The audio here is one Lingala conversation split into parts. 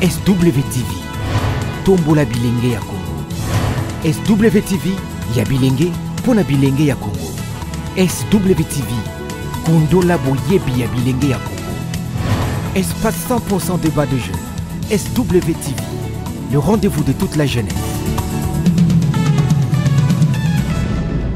SWTV, tombola bilenge ya Congo. SWTV ya bilenge mpo na bilenge ya Congo. SWTV, kundola boyebi ya bilenge ya Congo. Espace 100% débat de jeunes. SWTV, le rendez-vous de toute la jeunesse.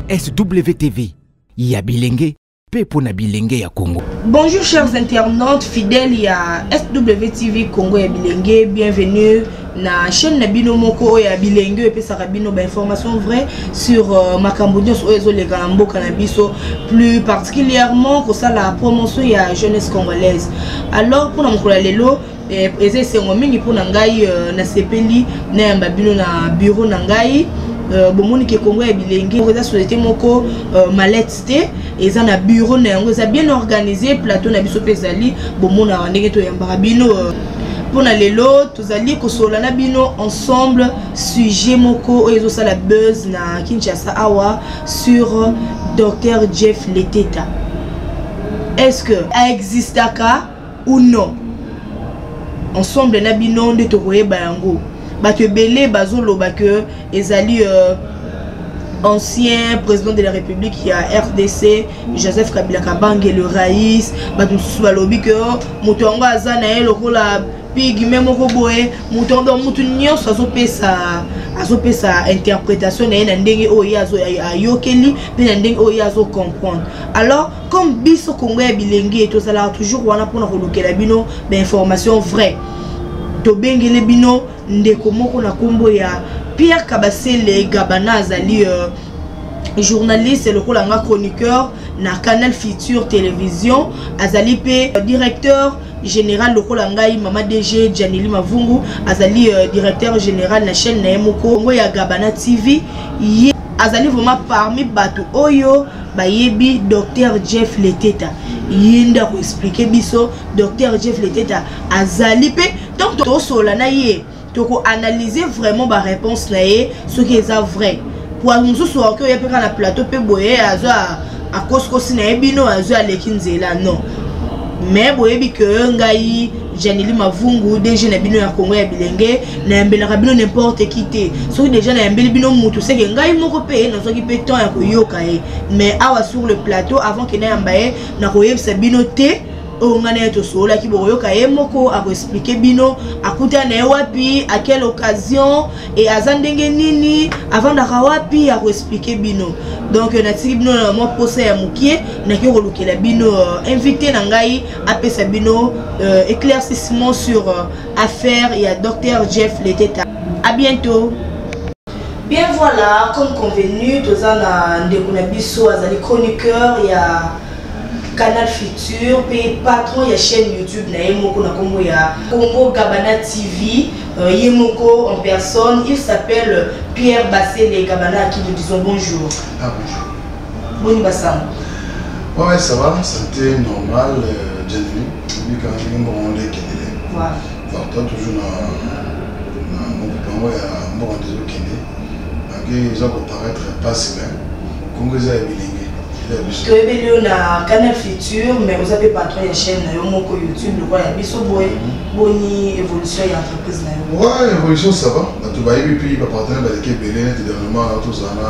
SWTV, ya bilenge mpe mpo na bilenge ya Congo. Bonjour chers internautes fidèles ya SWTV Congo ya bilenge, bienvenue na chaîne na bino moko oyo ya bilenge oyo epesaka bino bainformation vrai sur uh, makambo nyonso oyo ezoleka na mboka na biso plus particulièrement kosala promotion ya jeunesse congolaise alors mpona mokolo ya lelo Eh, eza esengo mingi mpo na ngai euh, nasepeli nayamba bino na biro na ngai euh, bomoni ke kongo ya bilenge eza société moko euh, malete te eza na biro na yango eza bien organisé plateau na biso mpe ezali bomonaka ndenge toyambaka bino mpo na lelo tozali kosolola na bino ensemble sujet moko oyo ezosala buzz na kinshasa awa sur docteur jeff leteta est ce que aexistaka ou non ensemble na bino nde tokoyeba yango bato ebele bazoloba ke ezali euh, ancien président de la république ya rdc joseph kabila kabange le rais bato mosusu balobi ke oh, moto yango aza na ye lokola pigme moko boye moto yango donc moto nyonso azopesa azopesa interprétation na ye na ndenge oyo ye ayokeli mpe na ndenge oyo ye azocomprendre alors comme biso congo ya bilenge tozalaka toujours wana mpona kolukela bino bainformation vrai tobengele bino ndeko moko na nkombo ya pierre kabasele gabana azali euh, journaliste lokola nga chroniqueur na canal future télévision azali mpe euh, directeur général lokola ngai mama dg janeli mavungu azali euh, directeur général na chaîne na ye moko ngo ya gabana tv ye azali vraiment parmi bato oyo bayebi docteur jeff leteta ye nde akoexplike biso docteur jeff leteta azali mpe ntango tosolola na ye tokoanalyse vraiment baréponse na ye soki eza vrai po mosusu aoki oya mpe kaka na plateau mpe boye azo akosikosi na ye bino azo aleki nzela non mais boyebi ke ngai janeli mavungu dg na bino ya kongo ya bilenge nayambelaka bino nimporte ki te soki deja nayambeli bino motu seke ngai moko mpe nazwaki mpe temps ya koyoka ye mais awa sur le plateau avant ke nayamba ye nakoyebisa bino te oyo ngai na ye tosololaki bokoyoka ye moko akoexplike bino akuta na ye wapi à quelle occasion e aza ndenge nini avandaka wapi akoexplike bino donc natiki bino na mwa mposa ya mokie nakoki kolukela bino euh, invité na ngai apesa bino euh, éclaircissement sur euh, affaire ya docteur jeff leteta à bientôt bien voilà comme convenu toza na ndeko na biso azali chroniqueur ya canal futur mpe patron ya chaîne youtube na ye moko na nkombo ya congo gabana tv euh, ye moko en personne il s'appelle pierre basele gabana akili disons bonjour ah, bonjour Boni basango Ouais, ça va, santé normale, euh, bienvenue. Obi quand même mbo on est kende. Voilà. Alors toi toujours na na mbo pango ya mbo on est kende. Malgré ils ont paraître pas si bien. Congo za bilingue. toyebi lio na canal future mais oza mpe patron ya chaîne na yo moko youtube lokola ya biso boye mhm. boni évolution ya entreprise na yo ouais évolution ça va bato bayebi mpe bapartenaire baleki ebele neti dernièrement tozala na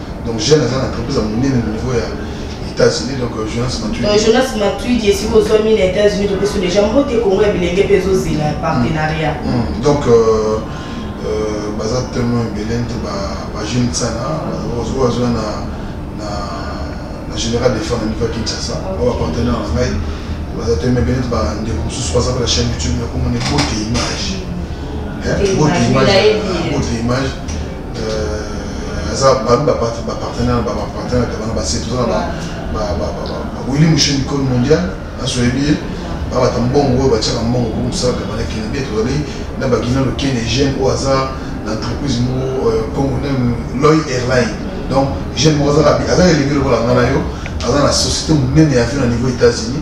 donc jeune aza na entreprise ya monene na niveau ya états-unis donc euh, jonas matuidi euh, jonas matuidi esika ozwami na états-unis topesi déjà mbote kongo ya bilenge mpe ezozela mm. partenariat mm. donc euh, baza tellement ebele nte bajeune sana oyo azwa na na général defend na niveau ya kinshasa oyo bapartenaire na ngai baza te mebele nte bandeko mosusu baza mpe na chaîne youtube nakomona bote image bote image Euh, aza bami bapartenaire na bapartenaire ya bana base toza na bawili moshe mikolo mondial aso oyebi ye babata mbongo oyo batiaka mbongo po mosala kabana kende bie tozali na bagina lokene jeune oyo aza na entreprise moko euh, congo loy airline donc jeune moko aza elenge lokola nga na yo aza na société monene ya avion na niveau états-unis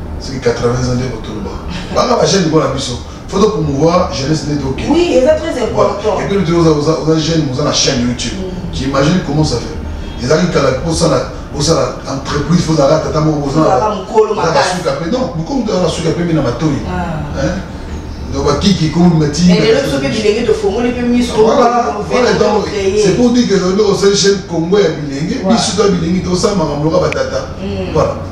soki 80 ans nde kotoloba banga bajeune lokola biso faut to promouvoir jeunesse nde toke oui eza très important et puis lote oza jeune oza na chaîne youtube mm. tu imagine comment ça fait ezalaki kala osala osala entreprise fo ozalaka tata moko ozalakasuka mpe non bokomi tozala suka mpe mpe na matoi ah. donc bakiki komati c'est pour dire que osali chaîne congo ya bilenge biso to ya bilenge tosala makambo loka batata mm. voilà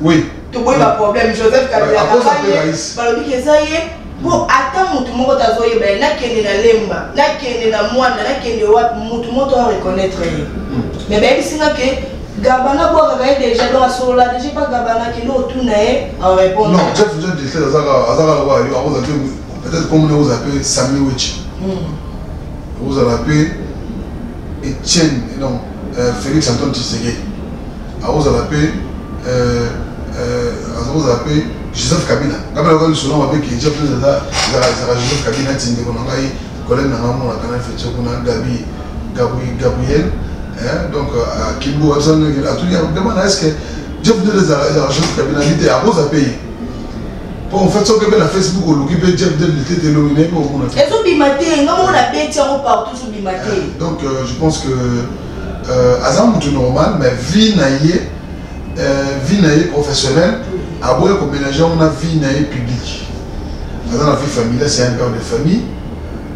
Oui. toboyi baproblème joseph kabila balobi ke eza ye mpo ata motu moko tazoyeba ye nakende na lemba nakende na mwana nakende wapi motu moko to reconnaitre ye hmm. mais bayebisi nga ke gabana bwakaka ye déjà donc asolola déjà pa gabana kende otuna ye en répondre non jeff jeff dislet azaka azaka lokola yo akoza mpe peut-être comme ne oza mpe sami wechi hmm. ozala mpe etienne non euh, Felix Antoine Tshisekedi akozala pe euh, euh, azokozala pe Joseph Kabila ngai nakoki lisolo mabe ke Jeff ezala ezala Joseph Kabila neti ndeko na ngai collègue na ngai mona kana fetio kuna Gabi Gabi Gabriel donc Kimbo abisa ndenge atuli demande est-ce que Jeff ezala Joseph Kabila nite akoza pe ye po en fait soki ebe na facebook oluki mpe jeff del lite te lobi nayebi omona te ezobima te nga moko na beti yango partout ezobima te euh, donc euh, je pense que euh, aza motu normal mais vie na ye euh, vie na ye professionnelle aboya komélange yango na vie na ye publique aza na vie familiale c'est un père de famille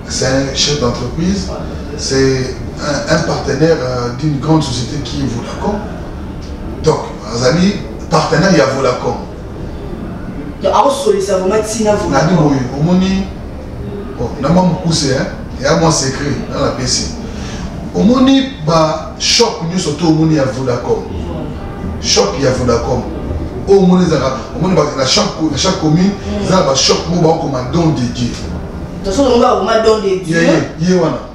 c'est un chef d'entreprise c'est un, un partenaire euh, d'une grande société qui est Vodacom donc azali partenaire ya Vodacom akosolisa vraimen ntina vraimen boye omoni na mwa mokuse ya mwa secret na napesi omoni bashop nyonso to omoni ya vodacom shop ya vodacom oyo omoni ezalaka omoni na chaque commune eza na bashop moko bakokoma don de dieu ye wana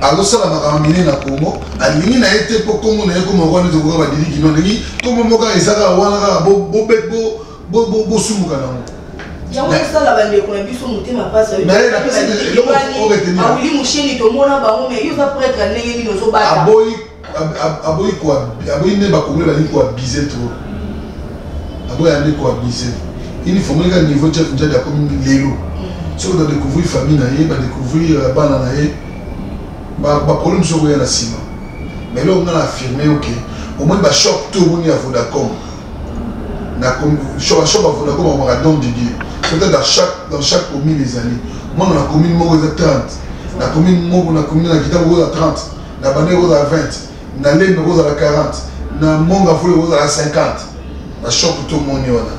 azosala makambo minene na congo alingi na ye te mpo nkombo na ye ekoma wana ete koka badiliki no alingi nkombo moko kaka eza kaka wana kaka bosumuka na yango yango esala bandeko na biso motema mpasiawili mosheni tomona bango me yo oza pretre ndenge nini ozobata aboyi ko aboyi nde bakongole balingi ko abuse trop aboyi ande ko abuse ini fomonika niveau chef njadi akomi lelo soki ba découvrir famille na ye ba découvrir euh, bana na ye baproblème mosusu okoya na nsima mais eloko nga na affirme yo ke omoni bashop to omoni ya vodacom bashop ya vodacom akomaka don de dieu peut-être dans chaque, dans chaque commune ezali mwana na commune moko eza 30 na commune moko na commune na kita moko eza 30 na bande ekozala 20 na lembe ekozala 40 na monga fulu ekozala 50 na shop tomoni wana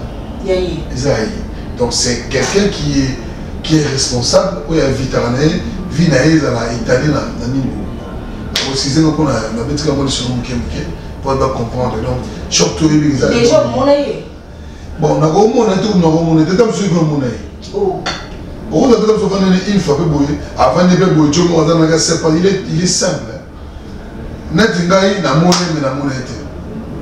eza ye donc c'est quelqu'un qui est, qui est responsable oyo avitaka na ye vie na ye ezala etali na nini précise noko na betika ngo lisolo moke moke po ba comprendre donc shop toyebi eza bon nakomona te nakomona te ta mosusu epe omona ye okoza mpe ta mosusu afandi na ilfa mpe boye afandi mpe boye tio moko aza naka sepa il est simple neti ngai namoni me namona ye te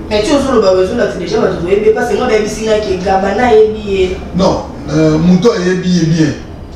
mais ti ozoloba ozolakisa deja bato boyebi ye parce que ngo nayebisi ngai ke gaba nayebi ye non euh, moto ayebi ye bien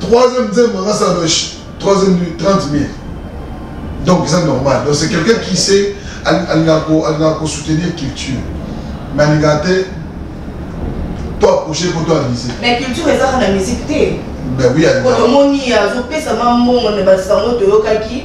Troisième nzembo nga sa loche. Troisième du 30 mille. Donc c'est normal. Donc c'est quelqu'un qui sait alingaka kosoutenir culture. Mais alingaka te to approche mpo to avise. Mais culture ezaka na musique te. Ben oui, alingaka. Otomoni azopesama mbongo na basango toyokaki.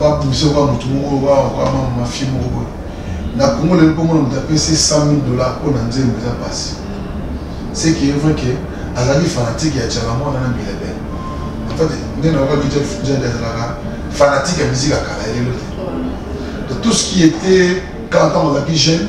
babundisa kwa motu moko bakwama mafie moko boye na congo lelo komona moto apesi 100 000 dollar mpo na nzembo eza mpasi ce qui est vrai que azalaki fanatique ya chala mwana na milebele en fait nde naokaki jade azalaka fanatique ya musique ya kala lelo te tout ce qui était kala ntango azalaki jeune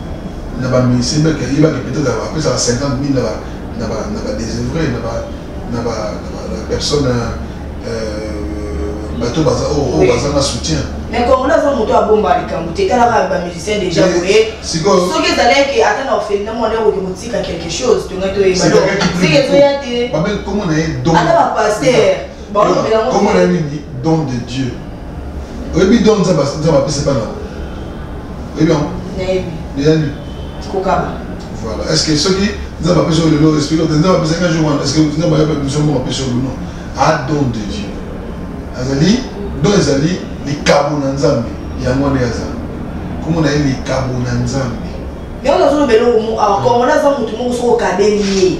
na ba musicien meke ayebaki peut-être apesaka 50 mille na ba na ba na ba désœuvré na ba na ba na ba personne euh, bato baza oyo oh, oh, baza na soutien mais congolais aza moto abomba likambo te etalaka bamusicien déjà boye soki ezalaki ata na ofeli na mwana okoki kotika quelque chose tongai toyebaseke ezoya te ata bapaster komona nini don de dieu oyebi don nzambe apesa bana oyebi yango eyani voilà est ce que soki nzambe apesa oyo lelo esprit ote nzambe apesaki un jour wana est ce que nzambe ayeba biso moko apesa oyo non a don de dieu azali don ezali likabo na nzambe yango wana aza komona ye likabo na nzambe yango nazolobela oyo awa kongo naza motu moko soki okabeli ye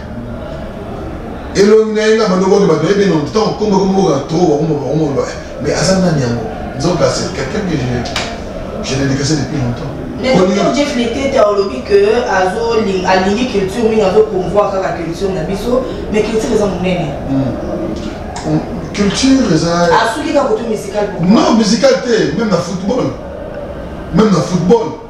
elongi na ye nga bando boke bato ebe non ntango kombo komboka to bakoma bakoma ba mais aza nani yango nzoka c'est quelqu'un que je je l'ai décaissé depuis longtemps mais docteur jeff letete olobi que alingi culture mingi azopromvoir kaka culture na biso mais culture eza monene hmm. culture eza asuki kaka kotu musical non musical te même na football même na football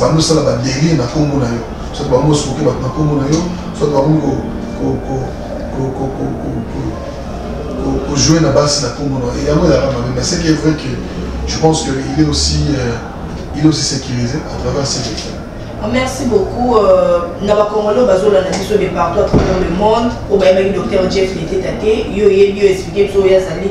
bando sala ba deli na kombo na yo soit bango soki bato na kombo na yo soit bango kojouer na basi na kombo na yo yango ezalaka mabe mais ce qui est vrai que je pense que il est aussi euh, il est aussi sécurisé à travers ses écrits ah, Merci beaucoup. Euh, na ba Congolais bazola na biso de partout à travers le monde. Obayebaki docteur Jeff Letete, yo yebi yo expliquer biso ya zali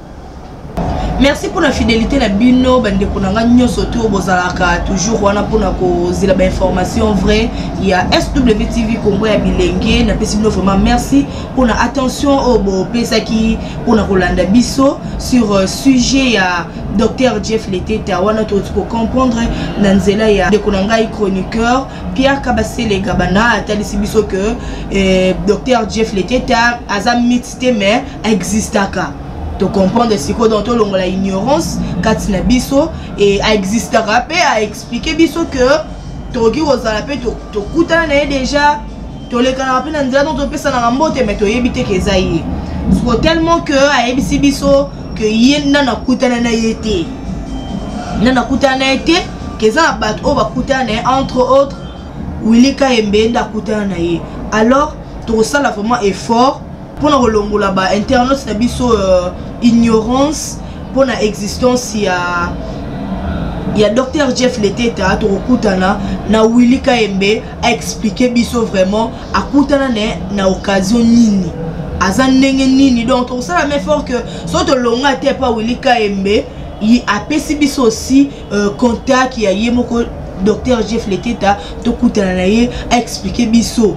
merci mpo na fidélité na bino bandeko na ngai nyonso to bozalaka toujours wana mpo na kozela bainformation vrai ya swtv congo ya bilenge napesi bino vraiment merci mpo na attention oyo bopesaki mpo na kolanda biso sur euh, sujet ya docteur jeff leteta wana tokoki kocomprendre na nzela ya ndeko na ngai chroniqueur pierre kabasele gabana atalisi biso que eh, docteur jeff leteta aza mite te mais existaka to comprendre sikoyo donc tolongola ignorance kati na biso e aexistaka mpe aexplike biso que tokoki kozala mpe tokutana na ye déjà tolekanaka mpe na nzela donc topesanaka mbote mai toyebi te ke eza ye siko tellement que ayebisi biso ke ye nda nakutana na ye te nda nakutana na ye te ke eza na bato oyo bakutana na ye entre autres willy kayembe nda akutana na ye alors tokosala vraiment effort mpo na kolongola ba internautes na biso uh, ignorance mpo na existence ya ya docteur jeff leteta tokokutana na willi kayembe aexplike biso vraiment akutana na na occasion nini aza ndenge nini donc tokosala mefort que so tolonga te epa willi kayembe apesi biso aussi euh, contact ya ye moko docteur jeff leketa tokutana na ye aexplike biso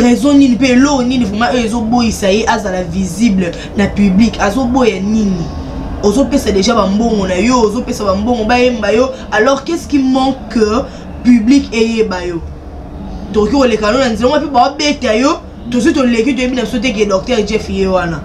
raison nini mpe eloo nini vraimen oyo ezoboyisa ye azala visible na public azoboya nini ozopesa deja bambongo na yo ozopesa bambongo bayemba yo alors qu'est ce qui manque public eyeba yo tokoki koleka no na nzela ngo mpe baobeta yo tosi toleki toyebi na biso te ke docteur jeff ye wana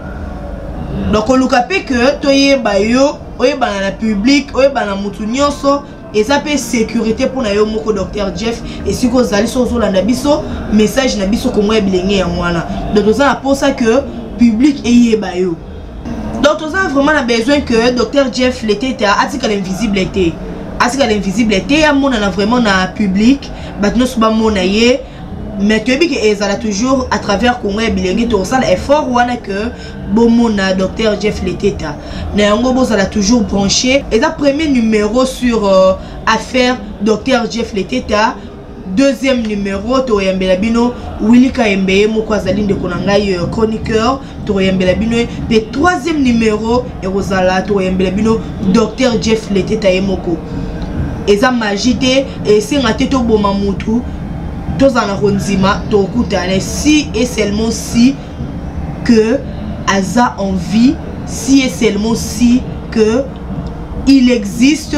donc koluka mpe ke toyeba yo oyebana na public oyebana mutu nyonso eza mpe sécurité mpo na yo moko docteur jeff esika ozali so ozolanda biso message na biso kongo ya bilenge yango wana donc toza na mposa que public eyeba yo donc toza vraiment na besoin que docteur jeff leteta atikala invisible te atikala invisible te amonana vraiment na public bato nyonso bamona ye mais toyebi ke ezala toujours à travers congo ya bilenge tokosala effort wana ke bomona docteur jeff leteta na yango bozala toujours branché eza premier numéro sur euh, affaire docteur jeff leteta deuxième numéro toyambela bino wilika yembe ye moko azali ndeko na ngai euh, chroniqueur tokoyembela bino ye mpe troisième numero ekozala tokoyembela bino docteur jeff leteta ye moko eza magie te esenga te toboma mutu tozala na kondima tokutana si et seulement si que aza en vie si et seulement si que il existe